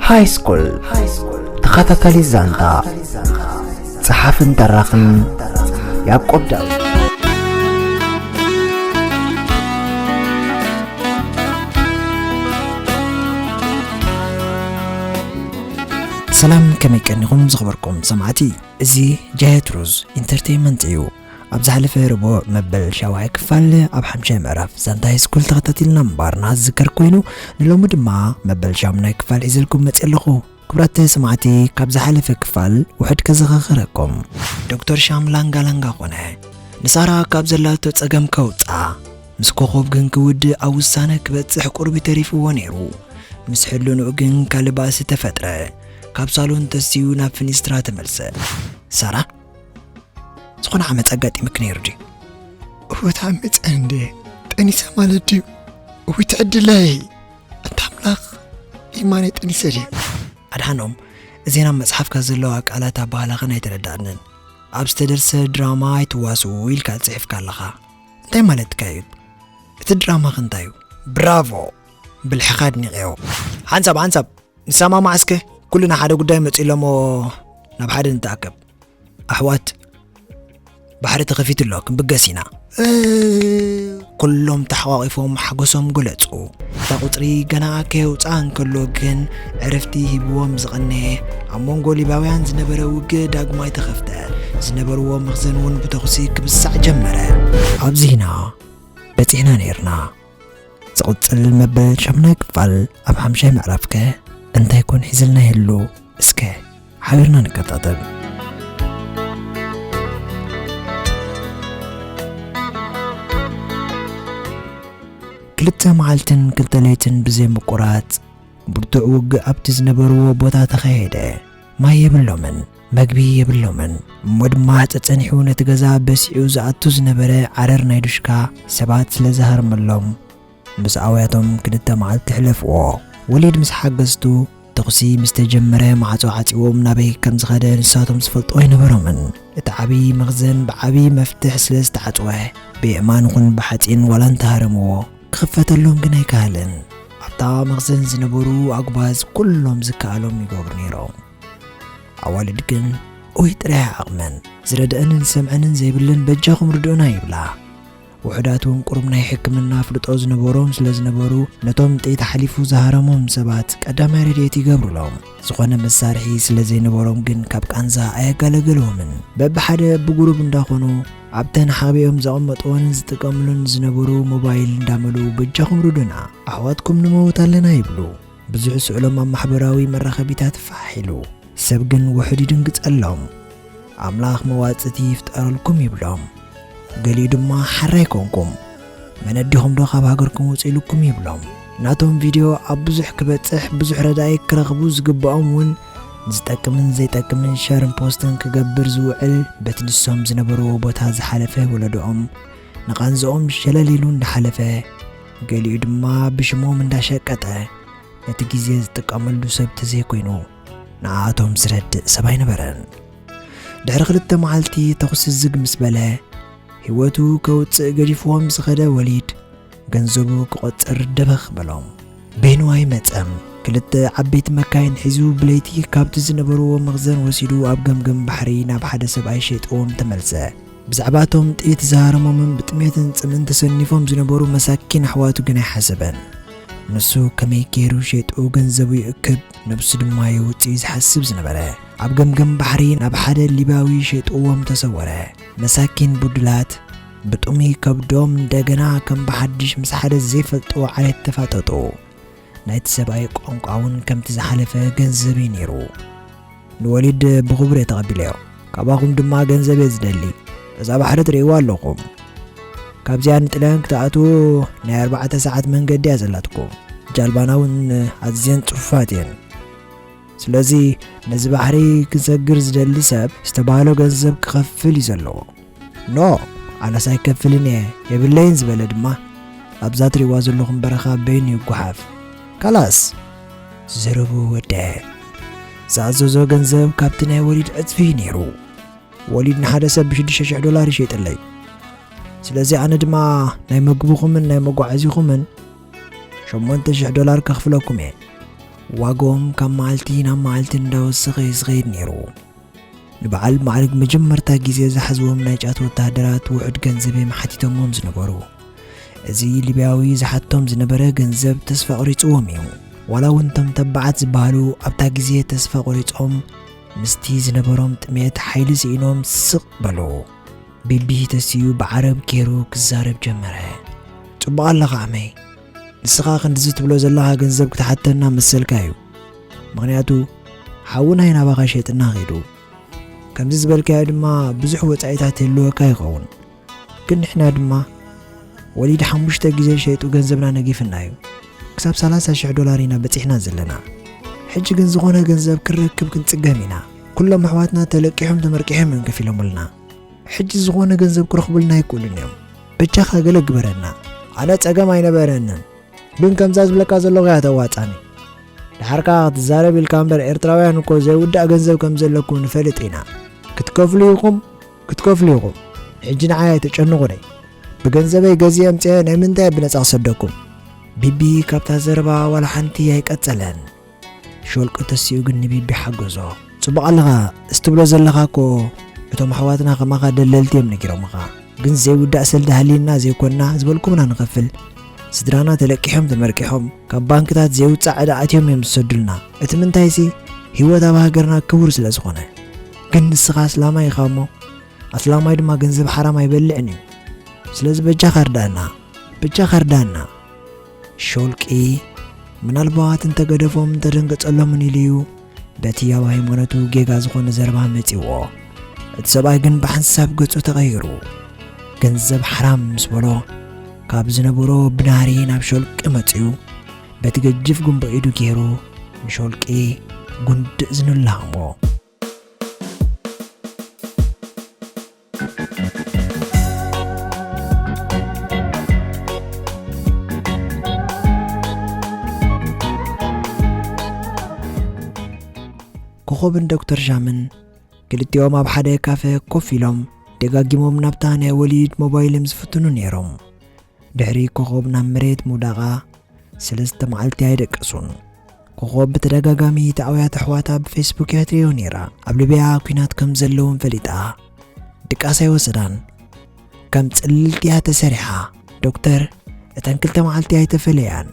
ሃይ ስኩል ተኸታታሊ ዛንታ ጸሓፍን ተራኽን ያዕቆብ ዳዊት ሰላም ከመይ ቀኒኹም ዝኽበርኩም ሰማዕቲ እዚ ጃየት ሩዝ ኢንተርቴይመንት እዩ ኣብ ዝሓለፈ ረቡዕ መበል ሻውዓይ ክፋል ኣብ ሓምሻይ ምዕራፍ ዛንታ ሃይስኩል ተኸታቲልና ምንባርና ዝዝከር ኮይኑ ንሎሚ ድማ መበል ሻሙናይ ክፋል ሒዘልኩም መፅእ ኣለኹ ክብራት ሰማዕቲ ካብ ዝሓለፈ ክፋል ውሕድ ከዘኻኽረኩም ዶክተር ሻም ላንጋ ላንጋ ኮነ ንሳራ ካብ ዘላቶ ጸገም ከውጽኣ ምስ ኮኾብ ግን ክውድእ ኣብ ውሳነ ክበጽሕ ቁርቢ ተሪፍዎ ነይሩ። ምስ ሕልንኡ ግን ካልእ ባእሲ ተፈጥረ። ካብ ሳሎን ተስዩ ናብ ፍኒስትራ ተመልሰ። ሳራ ዝኾነ ዓመፅ ኣጋጢምክ ነይሩ ድዩ እወት ዓመፀ እንደ ጠኒሰ ማለት ድዩ እዊ ትዕድለይ እንታ ኣምላኽ ኢማነ ጠኒሰ ድዩ ኣድሓኖም እዜና መጽሓፍካ ዘለዋ ቃላት ኣባህላኸን ኣይተረዳእንን ኣብ ዝተደርሰ ድራማ ኣይትዋስኡ ኢልካ ጽሒፍካ ኣለኻ እንታይ ማለትካ እዩ እቲ ድራማኽ እንታይ እዩ ብራቮ ብልሕኻ ኣድኒቐዮ ሓንሳብ ሓንሳብ ንሰማማዕ እስከ ኩልና ሓደ ጉዳይ መጺኡ ኣሎ እሞ ናብ ሓደ ንተኣከብ ኣሕዋት ባሕሪ ተኸፊቱ ኣሎ ክንብገስ ኢና ኩሎም ተሓቋቒፎም ሓጎሶም ገለጹ እታ ቁጽሪ ገና ከየውፅኣ እንከሎ ግን ዕርፍቲ ሂብዎም ዝቐነየ ኣብ መንጎ ሊባውያን ዝነበረ ውግእ ዳግማይ ተኸፍተ ዝነበርዎ መኽዘን እውን ብተኹሲ ክብሳዕ ጀመረ ኣብዚ ኢና በፂሕና ነይርና ዝቕጽል መበል ሻምናይ ክፋል ኣብ ሓምሻይ ምዕራፍ ከ እንታይ ኮን ሒዝልና ይህሉ እስከ ሓቢርና ንከታተል ክልተ መዓልትን ክልተ ለይትን ብዘይ ምቁራጽ ብርቱዕ ውግእ ኣብቲ ዝነበርዎ ቦታ ተኻየደ ማይ የብሎምን መግቢ የብሎምን እሞ ድማ ጸጸኒሑ ነቲ ገዛ በሲዑ ዝኣቱ ዝነበረ ዓረር ናይ ዱሽካ ሰባት ስለ ዝሃርመሎም ምስ ኣውያቶም ክልተ መዓልቲ ሕለፍዎ። ወሊድ ምስ ሓገዝቱ ተኹሲ ምስ ተጀመረ ማዕጾ ዓጺዎም ናበይ ከም ዝኸደ ንሳቶም ዝፈልጦ ኣይነበሮምን። እቲ ዓቢ መኽዘን ብዓቢ መፍትሕ ስለ ዝተዓጽወ ብየእማን ኹን ብሓጺን ዋላ እንተሃረምዎ ክኽፈተሎም ግን ኣይከኣለን። ኣብታ መኽዘን ዝነበሩ ኣጉባዝ ኩሎም ዝከኣሎም ይገብሩ ነይሮም። ኣዋልድ ግን ኡይ ጥራይ ዓቕመን ዝረድአንን ዝሰምዐንን ዘይብለን በጃኹም ርድኡና ይብላ። ውሑዳት እውን ቁሩብ ናይ ሕክምና ኣፍልጦ ዝነበሮም ስለ ዝነበሩ ነቶም ጥይት ሓሊፉ ዝሃረሞም ሰባት ቀዳማይ ረድኤት ይገብሩሎም። ዝኾነ መሳርሒ ስለ ዘይነበሮም ግን ካብ ቃንዛ ኣየጋለገልዎምን። በብሓደ ብጉሩብ እንዳኾኑ ኣብተን ሓቢኦም ዘቐመጥዎን ዝጥቀምሉን ዝነበሩ ሞባይል እንዳመልኡ በጃኹም ርዱና ኣሕዋትኩም ንመውት ኣለና ይብሉ። ብዙሕ ስእሎም ኣብ ማሕበራዊ መራኸቢታት ፋሕ ኢሉ፣ ሰብ ግን ውሑድ ይድንግጸሎም። ኣምላኽ መዋጽእቲ ይፍጠረልኩም ይብሎም። ገሊኡ ድማ ሓራይ ኮንኩም መነዲኹምዶ ካብ ሃገርኩም ውጹ ኢሉኩም ይብሎም። ናቶም ቪድዮ ኣብ ብዙሕ ክበጽሕ ብዙሕ ረዳኢ ክረኽቡ ዝግብኦም እውን ዝጠቅምን ዘይጠቅምን ሸርን ፖስትን ክገብር ዝውዕል በቲ ንሶም ዝነበርዎ ቦታ ዝሓለፈ ወለዶኦም ንቓንዝኦም ሸለል ኢሉ እንዳሓለፈ ገሊኡ ድማ ብሽሞም እንዳሸቀጠ ነቲ ግዜ ዝጥቀመሉ ሰብ ተዘይኮይኑ ንኣቶም ዝረድእ ሰብ ኣይነበረን ድሕሪ ክልተ መዓልቲ ተኹሲ ዝግ ምስ በለ ህይወቱ ከውፅእ ገዲፍዎም ዝኸደ ወሊድ ገንዘቡ ክቖፅር ደበኽ በሎም ቤንዋይ መፀም ክልተ ዓበይቲ መካይን ሒዙ ብለይቲ ካብቲ ዝነበርዎ መኽዘን ወሲዱ ኣብ ገምገም ባሕሪ ናብ ሓደ ሰብኣይ ሸጥዎም ተመልሰ ብዛዕባ እቶም ጥይት ዝሃረሞምን ብጥሜትን ጽምእን ተሰኒፎም ዝነበሩ መሳኪን ኣሕዋቱ ግን ኣይሓሰበን። ንሱ ከመይ ገይሩ ሸይጡ ገንዘቡ ይእክብ፣ ነብሱ ድማ የውጽእ እዩ ዝሓስብ ዝነበረ። ኣብ ገምገም ባሕሪ ናብ ሓደ ሊብያዊ ሸይጥዎም ተሰወረ። መሳኪን ብዱላት ብጥሙይ ከብዶም እንደገና ከም ብሓድሽ ምስ ሓደ ዘይፈልጥዎ ዓሌት ተፋጠጡ። ናይቲ ሰብኣይ ቋንቋ እውን ከምቲ ዝሓለፈ ገንዘብ እዩ ነይሩ። ንወሊድ ብኽቡር እየ ተቐቢለዮ፣ ካባኹም ድማ ገንዘብ እየ ዝደሊ። እዛ ባሕሪ ትርእይዋ ኣለኹም፣ ካብዚኣ ንጥልያን ክትኣትዉ ናይ ኣርባዕተ ሰዓት መንገዲ እያ ዘላትኩም። ጃልባና እውን ኣዝየን ጽፉፋት እየን። ስለዚ ነዚ ባሕሪ ክሰግር ዝደሊ ሰብ ዝተባህሎ ገንዘብ ክኸፍል እዩ ዘለዎ። ኖእ ኣነስ ኣይከፍልን እየ የብለይን ዝበለ ድማ ኣብዛ ትሪእዋ ዘለኹም በረኻ በይኑ ይጓሓፍ ካላስ ዝርቡ ወደአ ዝኣዘዞ ገንዘብ ካብቲ ናይ ወሊድ ዕፅፊ እዩ ነይሩ ወሊድ ንሓደ ሰብ ብሽዱሽተ ሽሕ ዶላር ይሸይጥለይ ስለዚ ኣነ ድማ ናይ መግብኹምን ናይ መጓዓዚኹምን ሸሞንተ ሽሕ ዶላር ከኽፍለኩም እየ ዋጋኦም ካብ መዓልቲ ናብ መዓልቲ እንዳወሰኸ እዩ ዝኸይድ ነይሩ ንበዓል ማዕርግ መጀመርታ ግዜ ዝሓዝዎም ናይ ጫት ወተሃደራት ውሑድ ገንዘብ እዮም ሓቲቶምዎም ዝነበሩ። እዚ ሊብያዊ ዝሓቶም ዝነበረ ገንዘብ ተስፋ ኣቑሪጽዎም እዩ። ዋላ እውን እቶም ተባዓት ዝበሃሉ ኣብታ ግዜ ተስፋ ቑሪጾም ምስቲ ዝነበሮም ጥሜት ሓይሊ ስኢኖም ስቕ በሉ። ቢቢ ተሲኡ ብዓረብ ገይሩ ክዛረብ ጀመረ። ጽቡቕ ኣለኻ ዓመይ። ንስኻ ክንድዚ ትብሎ ዘለኻ ገንዘብ ክትሓተና መሰልካ እዩ። ምኽንያቱ ሓዊ ናይ ናባኻ ሸይጥና ኺዱ ከምዚ ዝበልካዮ ድማ ብዙሕ ወጻኢታት የልወካ ይኸውን ግን ንሕና ድማ ወሊድ ሓሙሽተ ግዜ ሸይጡ ገንዘብና ነጊፍና እዩ ክሳብ 30 ሽሕ ዶላር ኢና በጺሕና ዘለና ሕጂ ግን ዝኾነ ገንዘብ ክንረክብ ክንጽገም ኢና ኩሎም ኣሕዋትና ተለቂሖም ተመርቂሖም እዮም ከፊሎምልና ሕጂ ዝኾነ ገንዘብ ክረኽቡልና ኣይክእሉን እዮም በጃኻ ገለ ግበረና ኣነ ጸገም ኣይነበረንን ግን ከምዛ ዝብለካ ዘለኹ እያ ተዋጻኒ ድሓር ከኣ ክትዛረብ ኢልካ እምበር ኤርትራውያን እኮ ዘይውዳእ ገንዘብ ከም ዘለኩም ንፈልጥ ኢና ክትከፍሉ ኢኹም ክትከፍሉ ኢኹም ሕጂ ንዓይ ኣይተጨንቑኒ ብገንዘበይ ገዜ ኣምፅአ ናይ ምንታይ ብነፃ ክሰደኩም ቢቢ ካብታ ዘረባ ዋላ ሓንቲ ኣይቀጸለን ሾልቂ ተሲኡ ግን ንቢቢ ሓገዞ። ጽቡቕ ኣለኻ እዚ ትብሎ ዘለኻ እኮ እቶም ኣሕዋትና ከማኻ ደለልቲ እዮም ነጊሮምኻ ግን ዘይውዳእ ሰልዲ ሃልይና ዘይኮንና ዝበልኩምና ንኸፍል ስድራና ተለቂሖም ተመርቂሖም ካብ ባንክታት ዘይውጻእ ዕዳ ኣትዮም እዮም ዝሰዱልና እቲ ምንታይሲ ህይወት ኣብ ሃገርና ክቡር ስለ ዝኾነ ግን ንስኻ ኣስላማይ ኢኻ እሞ ኣስላማይ ድማ ገንዘብ ሓራም ኣይበልዕን እዩ ስለዚ በጃኻ ርዳእና በጃኻ ርዳእና ሾልቂ ምናልባት እንተ ገደፎም ተደንገጸሎምን ኢሉ እዩ በቲ ኣብ ሃይማኖቱ ጌጋ ዝኾነ ዘረባ መጺዎ። እቲ ሰብኣይ ግን ብሓንሳብ ገጹ ተቐይሩ ገንዘብ ሓራም ምስ በሎ ካብ ዝነበሮ ብናሪ ናብ ሾልቂ መጽዩ በቲ ገጅፍ ጉንቦ ኢዱ ገይሩ ንሾልቂ ጉንድእ ዝንላሞ ኮኾብን ዶክተር ዣምን ክልቲኦም ኣብ ሓደ ካፈ ኮፍ ኢሎም ደጋጊሞም ናብታ ናይ ወሊድ ሞባይልም ዝፍትኑ ነይሮም ድሕሪ ኮኾብ ናብ መሬት ምውዳቓ ሰለስተ መዓልቲ ኣይደቀሱን። ኮኾብ ብተደጋጋሚ እቲ ኣውያት ኣሕዋታ ብፌስቡክ እያ ትሪኦ ነይራ። ኣብ ልብያ ኩናት ከም ዘለውን ፈሊጣ ድቃስ ኣይወሰዳን። ከም ጽልልቲ እያ ተሰሪሓ። ዶክተር እተን ክልተ መዓልቲ ኣይተፈለያን፣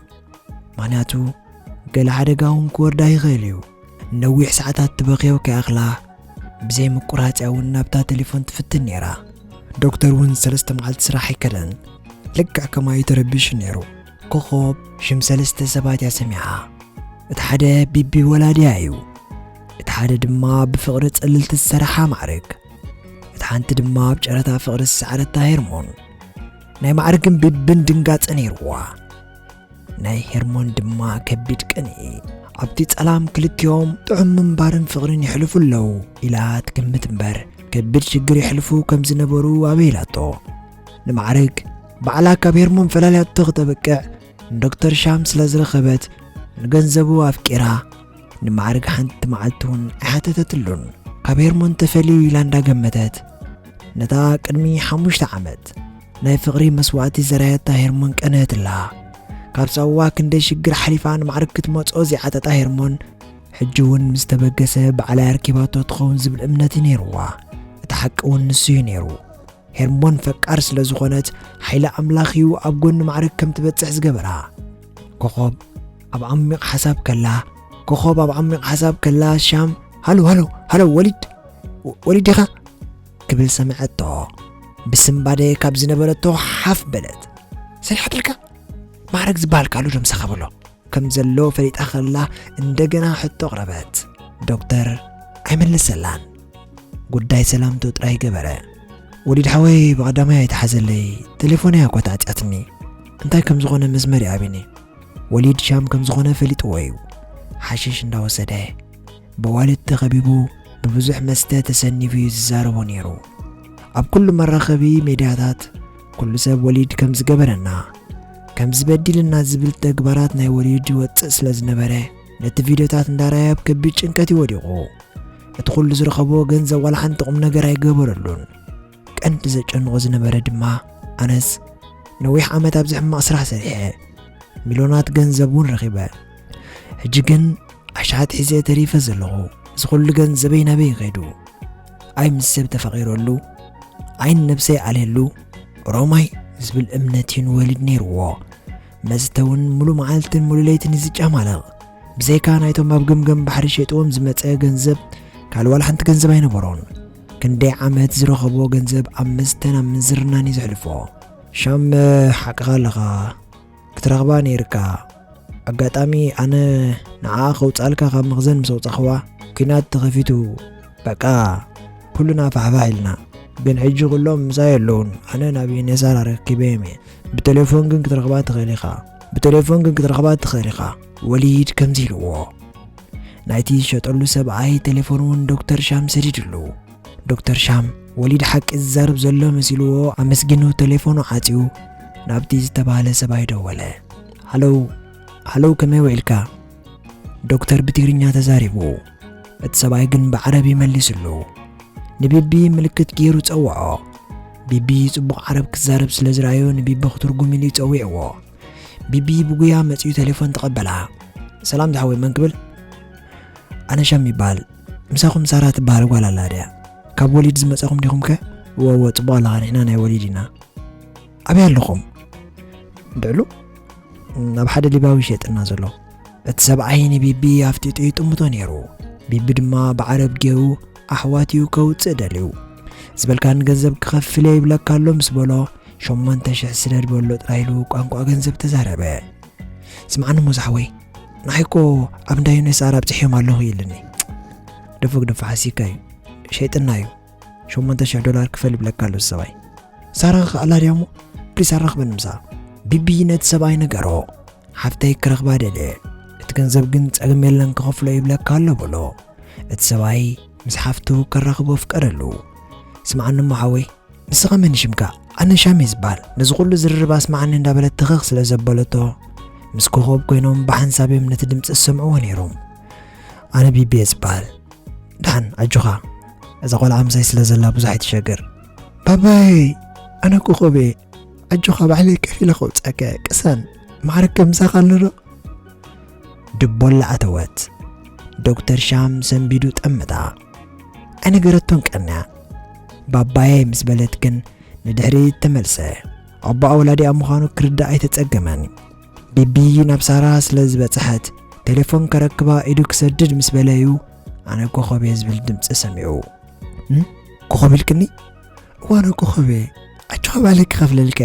ምኽንያቱ ገለ ሓደጋ እውን ክወርዳ ይኽእል እዩ። ንነዊሕ ሰዓታት ትበኽዮ ከይኣኽላ ብዘይ ምቁራጽ እያ እውን ናብታ ቴሌፎን ትፍትን ነይራ ዶክተር እውን ሰለስተ መዓልቲ ስራሕ ኣይከደን ልክዕ ከማዩ ተረቢሹ ነይሩ ኮኾብ ሽም ሰለስተ ሰባት እያ ሰሚዓ እቲ ሓደ ቢቢ ወላድያ እዩ እቲ ሓደ ድማ ብፍቕሪ ጽልልቲ ዝሰራሓ ማዕርግ እቲ ሓንቲ ድማ ኣብ ጨረታ ፍቕሪ ዝሰዓረታ ሄርሞን ናይ ማዕርግን ቢብን ድንጋጸ ነይርዋ ናይ ሄርሞን ድማ ከቢድ ቅንኢ ኣብቲ ጸላም ክልቲኦም ጥዑም ምንባርን ፍቕርን የሕልፉ ኣለዉ ኢላ ትግምት እምበር ከቢድ ሽግር የሕልፉ ከም ዝነበሩ ኣበይላቶ ንማዕርግ ባዕላ ካብ ሄርሞን ፈላልያቶ ክተበቅዕ ንዶክተር ሻም ስለ ዝረኸበት ንገንዘቡ ኣፍቂራ ንማዕርግ ሓንቲ መዓልቲ እውን ኣይሓተተትሉን ካብ ሄርሞን ተፈልዩ ኢላ እንዳገመተት ነታ ቅድሚ ሓሙሽተ ዓመት ናይ ፍቕሪ መስዋእቲ ዘራየታ ሄርሞን ቀንሀትላ ካብ ሳዋ ክንደይ ሽግር ሓሊፋ ንማዕርግ ክትመጾ ዘይዓጠጣ ሄርሞን ሕጂ እውን ምስ ተበገሰ ባዕላይ ኣርኪባቶ ትኸውን ዝብል እምነት እዩ ነይርዋ እቲ ሓቂ እውን ንሱ እዩ ነይሩ ሄርሞን ፈቃር ስለ ዝኾነት ሓይሊ ኣምላኽ እዩ ኣብ ጎኒ ማዕርግ ከም ትበጽሕ ዝገበራ ኮኾብ ኣብ ዓሚቕ ሓሳብ ከላ ኮኾብ ኣብ ዓሚቕ ሓሳብ ከላ ሻም ሃሎ ሃሎ ሃሎ ወሊድ ወሊድ ኢኻ ክብል ሰምዐቶ ብስምባደ ካብ ዝነበረቶ ሓፍ በለት ሰሪሓትልካ ማዕረግ ዝበሃል ቃሉ ደም ሰኸብሎ ከም ዘሎ ፈሊጣ ከላ እንደገና ሕቶ ኣቕረበት ዶክተር ኣይመለሰላን ጉዳይ ሰላምቶ ጥራይ ገበረ ወሊድ ሓወይ ብቐዳማይ ኣይተሓዘለይ ቴሌፎን እያ ኮታዕጫትኒ እንታይ ከም ዝኾነ መስመር ይኣብኒ ወሊድ ሻም ከም ዝኾነ ፈሊጥዎ እዩ። ሓሽሽ እንዳወሰደ፣ በዋልድ ተኸቢቡ፣ ብብዙሕ መስተ ተሰኒፉ እዩ ዝዛረቦ ነይሩ። ኣብ ኩሉ መራኸቢ ሜድያታት ኩሉ ሰብ ወሊድ ከም ዝገበረና ከም ዝበዲልና ዝብል ተግባራት ናይ ወሊድ ይወጽእ ስለ ዝነበረ ነቲ ቪድዮታት እንዳራየ ኣብ ከቢድ ጭንቀት ይወዲቑ። እቲ ኩሉ ዝረኸቦ ገንዘብ ዋላ ሓንቲ ቁም ነገር ኣይገበረሉን። ቀንዲ ዘጨንቖ ዝነበረ ድማ ኣነስ ነዊሕ ዓመት ኣብዚ ሕማቕ ስራሕ ሰሪሐ ሚልዮናት ገንዘብ እውን ረኺበ ሕጂ ግን ኣሽሓት ሒዘ ተሪፈ ዘለኹ እዚ ኩሉ ገንዘበይ ናበይ ይኸይዱ ኣይ ምስ ሰብ ተፈቒረሉ ዓይን ነብሰይ ኣልየሉ ሮማይ ዝብል እምነት እዩ ንወሊድ ነይርዎ መስተ እውን ሙሉእ መዓልትን ሙሉእ ለይትን እዩ ዝጨማለቕ ብዘይካ ናይቶም ኣብ ገምገም ባሕሪ ሸጥዎም ዝመፀ ገንዘብ ካልእ ዋላ ሓንቲ ገንዘብ ኣይነበሮን ክንደይ ዓመት ዝረኸቦ ገንዘብ ኣብ መስተን ኣብ ምንዝርናን እዩ ዘሕልፎ። ሻም ሓቅኻ ኣለኻ ክትረኽባ ነይርካ ኣጋጣሚ ኣነ ንዓ ከውፃልካ ካብ መኽዘን ምስ ኣውፃኽዋ ኩናት ተኸፊቱ በቃ ኩሉና ፋሕፋሕ ኢልና ግን ሕጂ ኩሎም ምሳይ ኣለውን ኣነ ናብ ዩኔሳር ኣረኪበዮም እየ ብቴሌፎን ግን ክትረኽባ ትኽእል ኢኻ ብቴሌፎን ግን ክትረኽባ ትኽእል ኢኻ ወሊድ ከምዚ ኢልዎ ናይቲ ዝሸጠሉ ሰብኣይ ቴሌፎን እውን ዶክተር ሻም ሰዲድሉ ዶክተር ሻም ወሊድ ሓቂ ዝዛረብ ዘሎ መሲልዎ ኣመስጊኑ ቴሌፎኑ ዓፅዩ ናብቲ ዝተባህለ ሰብኣይ ደወለ ሃለው ሃለው ከመይ ውዒልካ ዶክተር ብትግርኛ ተዛሪቡ እቲ ሰብኣይ ግን ብዓረብ ይመሊስሉ ንቢቢ ምልክት ገይሩ ጸውዖ ቢቢ ጽቡቕ ዓረብ ክዛረብ ስለ ዝረኣዮ ንቢቢ ክትርጉም ኢሉ ይጸዊዕዎ ቢቢ ብጉያ መጺኡ ቴሌፎን ተቐበላ። ሰላም ዝሓወይ መን ክብል? ኣነ ሻም ይበሃል ምሳኹም ሳራ ትበሃል ጓል ኣላ ድያ ካብ ወሊድ ዝመፀኹም ዲኹም ከ ወወ ፅቡቅ ኣለኻ ንሕና ናይ ወሊድ ኢና ኣበይ ኣለኹም ድዕሉ ናብ ሓደ ሊባዊ ሸጥና ዘሎ እቲ ሰብዓይ ንቢቢ ኣፍጢጡ ይጥምቶ ነይሩ ቢቢ ድማ ብዓረብ ገይሩ ኣሕዋት እዩ ከውጽእ ደልዩ ዝበልካ ንገንዘብ ክኸፍል እየ ይብለካ ኣሎ ምስ በሎ ሸሞንተ ሽሕ ስደድ በሎ ጥራይ ኢሉ ቋንቋ ገንዘብ ተዛረበ ስምዓኒ እሞ ዝሓወይ ንዓይ እኮ ኣብ እንዳ ዩኔስ ኣር ኣብፅሕዮም ኣለኹ ኢልኒ ደፎግ ደፋ ሓሲካ እዩ ሸይጥና እዩ ሸሞንተ ሽሕ ዶላር ክፈል ይብለካ ኣሎ ሰባይ ሳራ ክኣላ ድያ እሞ ፕሊስ ኣራኽበኒ ምሳ ቢቢ ነቲ ሰብኣይ ነገሮ ሓፍተይ ክረኽባ ደልየ እቲ ገንዘብ ግን ጸገም የለን ክኸፍሎ ይብለካ ኣሎ በሎ እቲ ሰብኣይ ምስ ሓፍቱ ከራኽቦ ኣፍቀረሉ። ስምዓኒ እሞ ሓወይ፣ ንስኻ መን ሽምካ? ኣነ ሻም እየ ዝበሃል። ነዚ ኩሉ ዝርርብ ኣስምዓኒ እንዳበለት ትኽኽ ስለ ዘበለቶ፣ ምስ ኮኾብ ኮይኖም ብሓንሳብ እዮም ነቲ ድምጺ ዝሰምዕዎ ነይሮም። ኣነ ቢቢ እየ ዝበሃል። ደሓን ኣጆኻ፣ እዛ ቆልዓ ምሳይ ስለ ዘላ ብዙሕ ኣይትሸገር። ባባይ፣ ኣነ ኮኾብ እየ። ኣጆኻ ባዕለይ ከፊለ ከውጽኣካ እየ። ቅሰን፣ ማዕረከ ምሳኻ ኣሎ ዶ? ድቦላ ኣተወት ዶክተር ሻም ሰንቢዱ ጠምታ ኣይነገረቶን ቀንያ ባባየ ምስ በለት ግን ንድሕሪት ተመልሰ ኣቦኣ ወላዲኣ ምዃኑ ክርዳእ ኣይተጸገመን ቢቢ ናብ ሳራ ስለ ዝበጽሐት ቴሌፎን ከረክባ ኢዱ ክሰድድ ምስ በለዩ ኣነ ኮኸብ እየ ዝብል ድምፂ ሰሚዑ ኮኸብ ኢልክኒ እዋነ ኮኸበ ኣቸኻባለ ክኸፍለልከ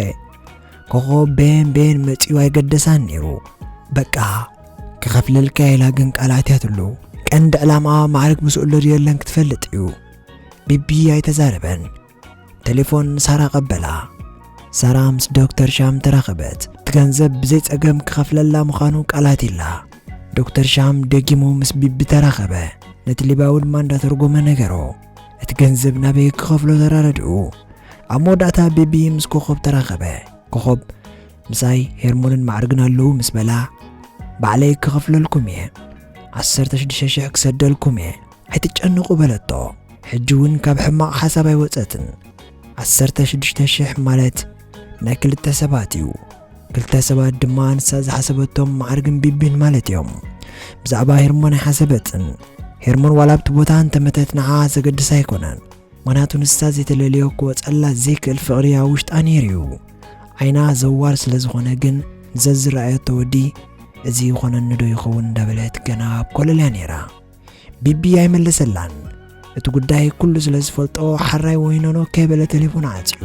ኮኸብ ቤን ቤን መጺኡ ኣይገደሳን ነይሩ በቃ ክኸፍለልከ ኢላ ግን ቃል ኣትያትሉ ቀንዲ ዕላማ ማዕርግ ምስኡሎ ድየለን ክትፈልጥ እዩ ቢቢ ኣይተዛረበን ቴሌፎን ሳራ ቀበላ ሳራ ምስ ዶክተር ሻም ተራኸበት ገንዘብ ብዘይጸገም ክኸፍለላ ምዃኑ ቃላት ኢላ ዶክተር ሻም ደጊሙ ምስ ቢቢ ተራኸበ ነቲ ሊባዊ ድማ እንዳተርጎመ ነገሮ እቲ ገንዘብ ናበይ ክኸፍሎ ተራረድኡ። ኣብ መወዳእታ ቤቢ ምስ ኮኾብ ተራኸበ። ኮኾብ ምሳይ ሄርሞንን ማዕርግን ኣለዉ ምስ በላ ባዕለይ ክኸፍለልኩም እየ ዓሰርተ ሽዱሽተ ሽሕ ክሰደልኩም እየ ኣይትጨንቑ በለቶ። ሕጂ እውን ካብ ሕማቕ ሓሳብ ኣይወፀትን። ዓሰርተ ሽዱሽተ ሽሕ ማለት ናይ ክልተ ሰባት እዩ። ክልተ ሰባት ድማ ንሳ ዝሓሰበቶም ማዕርግን ቢቢን ማለት እዮም ብዛዕባ ሄርሞን ኣይሓሰበትን ሄርሞን ዋላ ኣብቲ ቦታ እንተመተት ንዓኣ ዘገድስ ኣይኮነን ምክንያቱ ንሳ ዘይተለልዮ ክወፀላ ዘይክእል ፍቕሪ ኣብ ውሽጣ ነይሩ እዩ ዓይና ዘዋር ስለ ዝኾነ ግን ንዘዝረኣየቶ ወዲ እዚ ይኾነኒ ዶ ይኸውን እንዳበለት ገና ኣብ ኮለልያ ነይራ ቢቢ ኣይመለሰላን እቲ ጉዳይ ኩሉ ስለ ዝፈልጦ ሓራይ ወይኖኖ ከይበለ ቴሌፎን ዓፅዩ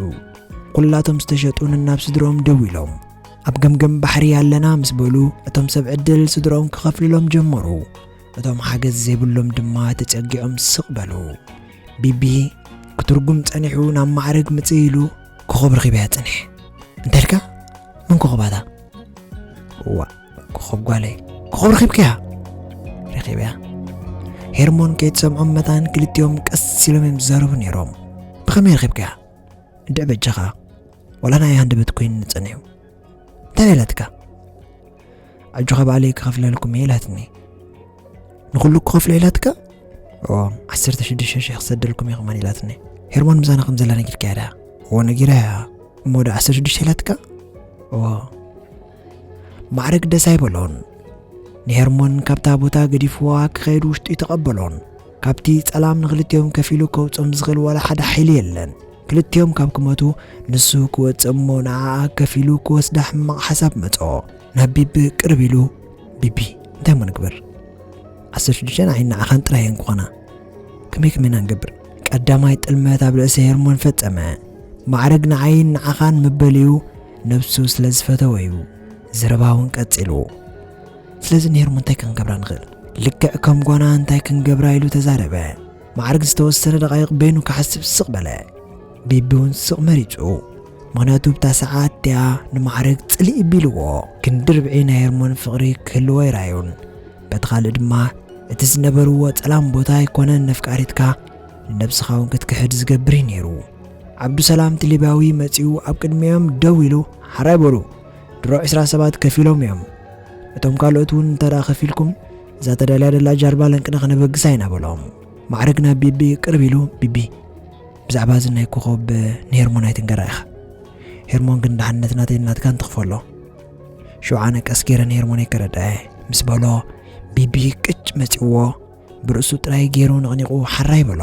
ኩላቶም ዝተሸጡን ናብ ስድሮም ደው ኢሎም ኣብ ገምገም ባሕሪ ኣለና ምስ በሉ እቶም ሰብ ዕድል ስድሮም ክኸፍልሎም ጀመሩ እቶም ሓገዝ ዘይብሎም ድማ ተጸጊዖም ስቕ በሉ ቢቢ ክትርጉም ጸኒሑ ናብ ማዕርግ ምጽእ ኢሉ ኮኸብ ረኺበያ ጽንሕ እንተልካ መን ኮኸባታ ዋ ኮኸብ ጓለይ ኮኸብ ረኺብክያ ረኺብያ ሄርሞን ከይትሰምዖም መታን ክልቲኦም ቀስ ኢሎም እዮም ዝዛረቡ ነይሮም ብኸመይ ረኺብክያ እንድዕ በጃኻ ወላ ናይ ሃንደበት ኮይኑ ንጸንሑ እንታይ በለትካ ኣጆኻ ባዕለይ ክኸፍለልኩም እየ ኢላትኒ ንኹሉ ክኸፍሎ ኢላትካ ኦ ዓሰርተ ሽዱሽተ ሽሕ ክሰደልኩም እየ ከማን ኢላትኒ ሄርሞን ምሳና ከም ዘላ ነጊርካ እያ ድኣ እዎ ነጊራ እያ እሞ ዶ ዓሰርተ ሽዱሽተ ኢላትካ እዎ ማዕርግ ደስ ኣይበሎን ንሄርሞን ካብታ ቦታ ገዲፍዋ ክኸይድ ውሽጡ ይተቐበሎን ካብቲ ጸላም ንክልቲኦም ከፊሉ ከውጾም ዝኽእል ዋላ ሓደ ሓይሊ የለን ክልቲኦም ካብ ክመቱ ንሱ ክወጽእ እሞ ንዓኣ ከፊሉ ክወስዳ ሕማቕ ሓሳብ መጾ ናብ ቢቢ ቅርብ ኢሉ ቢቢ እንታይ እሞ ንግበር ዓሰርተ ሽዱሽተ ንዓይ ንዓኻን ጥራይ እየን ክኾና ከመይ ከመይ ኢና ንገብር ቀዳማይ ጥልመት ኣብ ርእሲ ሄርሞን ፈጸመ ማዕርግ ንዓይን ንዓኻን ምበልዩ ነብሱ ስለ ዝፈተወ እዩ ዘረባ እውን ቀጺሉ ስለዚ ንሄርሞ እንታይ ክንገብራ ንኽእል ልክዕ ከም ጓና እንታይ ክንገብራ ኢሉ ተዛረበ ማዕርግ ዝተወሰነ ደቓይቕ በይኑ ክሓስብ ስቕ በለ ቢቢ እውን ስቕ መሪጹ ምክንያቱ ብታ ሰዓት እቲኣ ንማዕርግ ጽልኢ ቢልዎ ክንዲ ርብዒ ናይ ሄርሞን ፍቕሪ ክህልዎ ይራዩን በቲ ካልእ ድማ እቲ ዝነበርዎ ጸላም ቦታ ኣይኮነን ነፍቃሪትካ ንነብስኻ እውን ክትክሕድ ዝገብር እዩ ነይሩ ዓብዱሰላም እቲ ሊብያዊ መጺኡ ኣብ ቅድሚኦም ደው ኢሉ ሓራይ በሉ። ድሮ ዕስራ ሰባት ከፊሎም እዮም። እቶም ካልኦት እውን እንተደኣ ከፊልኩም እዛ ተዳልያ ደላ ጃልባ ለንቅነ ክነበግሳ ኢና በሎም። ማዕርግ ናብ ቢቢ ቅርብ ኢሉ ቢቢ ብዛዕባ እዚ ናይ ኮኸብ ንሄርሞን ኣይትንገራ ኢኻ ሄርሞን ግን ድሓነት ናተይ ናትካን ትኽፈሎ ሽውዓነ ቀስ ገይረ ንሄርሞነይ ከረድዐ ምስ በሎ ቢቢ ቅጭ መጺዎ ብርእሱ ጥራይ ገይሩ ነቕኒቑ ሓራ ይበሎ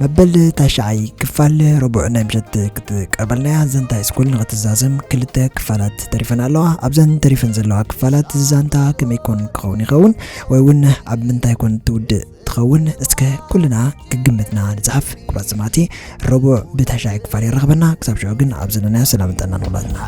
መበል ታሽዓይ ክፋል ረቡዕ ናይ ምሸት ክትቀርበልና እያ ዘንታ ስኩል ንክትዛዘም ክልተ ክፋላት ተሪፈን ኣለዋ ኣብዘን ተሪፈን ዘለዋ ክፋላት ዛንታ ከመይ ኮን ክኸውን ይኸውን ወይ እውን ኣብ ምንታይ ኮን ትውድእ ትኸውን እስከ ኩልና ግግምትና ንፅሓፍ ኩብራት ሰማዕቲ ረቡዕ ብታሽዓይ ክፋል የራኽበና ክሳብ ሽዑ ግን ኣብ ዘለናዮ ሰላም ጥዕና ንኹላትና